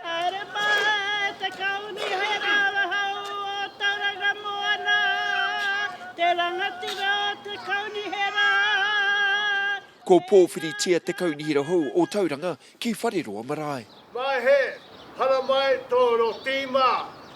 Haere mai te kauni hei rangahau o Tauranga Moana, te rangatira o te kaunihera. Ko Pōwhiritia te kaunihera hou o Tauranga ki Whareroa marae. Maehe, haramai tō rō tīma.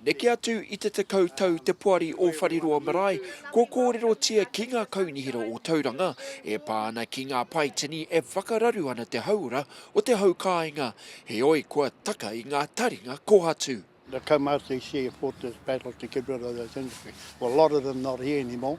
Neke atu i te tekau tau te Poari o Whareroa Marae kua kōrerotia ki ngā kaunihera o Tauranga e pā ana ki ngā pae tini e whakararu ana te hauora o te hau kāinga, heoi kua taka i ngā taringa kōhatu. The Comhotese Sea Fortress Battle to get rid of those industries. Well a lot of them not here anymore.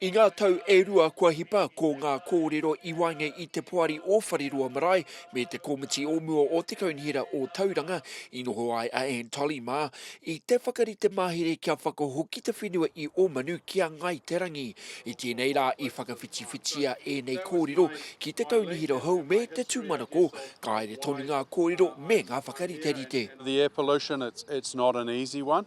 I ngā tau e rua kua hipa, ko ngā kōrero i waenga i te Poari o Whareroa Marae me te Komiti o Mua o te Kaunihera o Tauranga i noho ai a Anne Tolley mā i te whakarite mahere kia whakahoki te whenua i Ōmanu ki a Ngāi Te Rangi. I tēnei rā i whakawhitiwhitia ēnei kōrero ki te kaunihera hou me te tūmanako, ka haere tonu ngā kōrero me ngā whakariterite. The air pollution, it's not an easy one.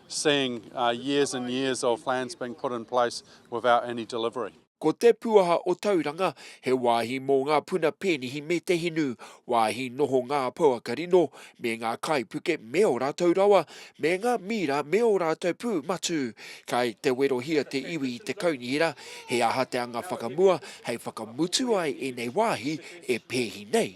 seeing years and years of plans being put in place without any delivery. Ko Te Puaha o Tauranga, he wāhi mō ngā puna pēnihi me te hinu, wāhi noho ngā pouaka rino me ngā kaipuke me ō rātou rawa, me ngā mīra me ō rātou pū matū. Kai te werohia te iwi i te kaunihera he aha te anga whakamua hei whakamutu ai ēnei wāhi e pēhi nei.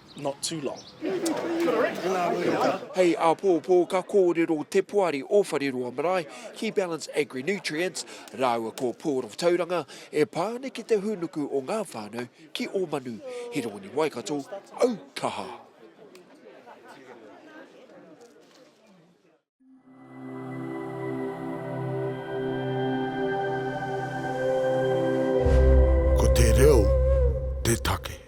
not too long. Hei āpōpō ka kōrero te poari o Whareroa Marae ki Balance Agri Nutrients rāua ko Port of Tauranga e pā ana ki te hūnuku o ngā whānau ki ō manu. Hiroini Waikato, au kaha! Ko te reo te take.